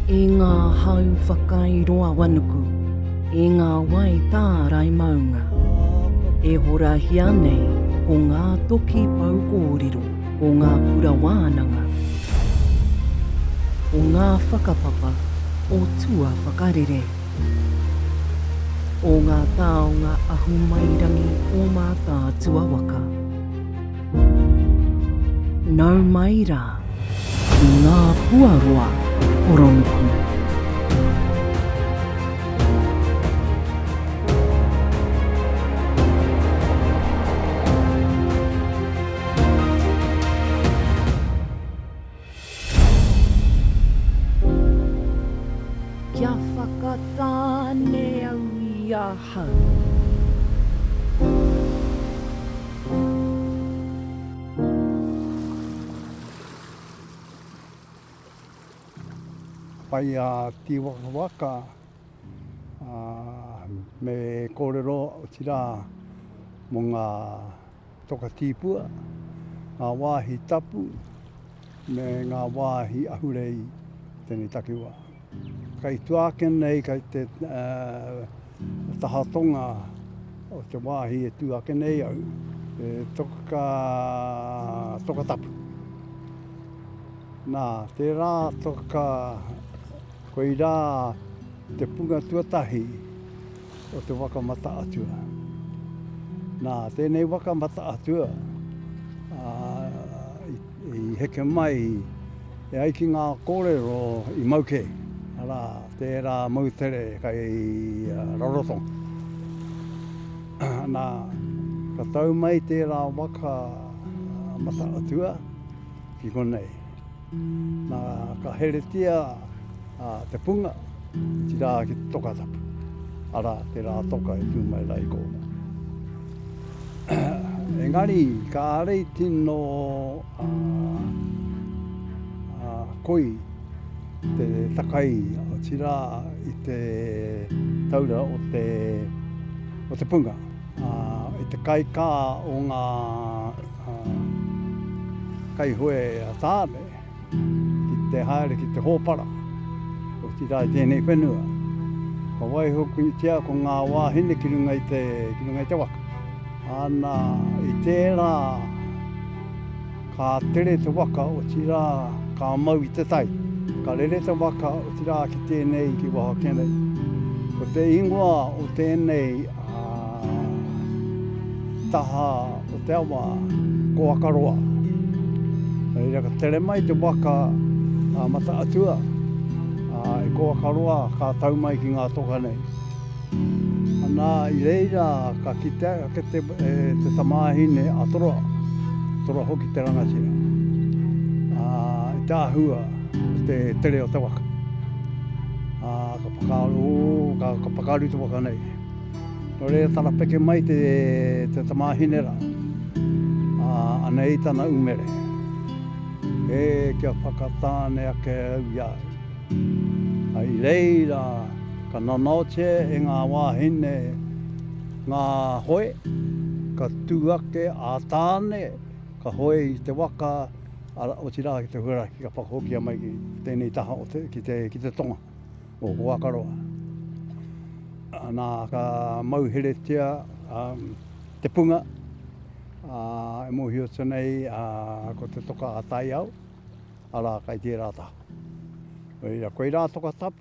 E ngā hau whakairoawanuku, e ngā wai tārai maunga, e horahia nei ko ngā toki pou kōrero, ko ngā kura wānanga, ko ngā whakapapa o tuawhakarere. O ngā taonga ahumairangi o Mātaatua waka. Nau mai rā ki ngā puaroa poronuku. Kia whakatāne au i ahau. Pai a Tiwakawaka me korero otira mo nga Toka Tīpua, ngā wāhi tapu me ngā wāhi ahurei i tēnei takiwā. Kei tua ake nei, kei te taha tonga o te wāhi e tū ake nei au, te toka, toka tapu. Nā, tērā toka, koirā te punga tuatahi. o te waka mata-atua. Nā, tēnei waka mata-atua i heke mai e ai ki ngā kōrero i mau kē. Arā, tērā moutere kai Rarotonga. Nā, ka tau mai tērā waka mata-atua ki konei. Na, ka heretia a, te punga, ti ra ki te toka tapu. Ara, te ra toka e tu mai ra i kona. Engari, karei tino a, a, koi te takai, ti ra i te taura o te, o te punga. A, i te kai ka o nga, ā, kai hoe a Tāne ki te haere ki te hōpara, otirā i tēnei whenua. Ka waiho punitia ko ngā wāhine ki runga i te, ki runga i te waka. Ana, i tērā, ka tere te waka, otirā, ka mau i te tai. Ka rere te waka, otirā, ki tēnei, ki waho ake nei. Ko te ingoa o tēnei, ā, taha, Ko te awa, ko Akaroa. Reira ka tere mai te waka a Mata Atua, a, i ko Akaroa ka tau mai ki ngā toka nei. Ana, i reira ka kitea ake te, e, te tamāhine a Toroa, Toroa hoki te rangatira. A, i te āhua, te tere o te waka. A, ka whakaaro, ka, ka pakaru te waka nei. Nō reira tarapeke mai te tamāhine rā, ā, anei tana umere, Ē, kia whakatāne ake au i a au. Ā, i reira ka nanaotia e ngā wāhine ngā hoe, ka tū ake a Tāne, ka hoe i te waka, arā, otirā ki te huarahi, ka whakahokia mai ki tēnei taha o te, ki te, ki te tonga. o Hoakaroa. Nā, ka mauheretia te punga e mōhiotia nei ko te toka a Taiao, arā, kai tērā taha. Koirā, koirā toka tapu.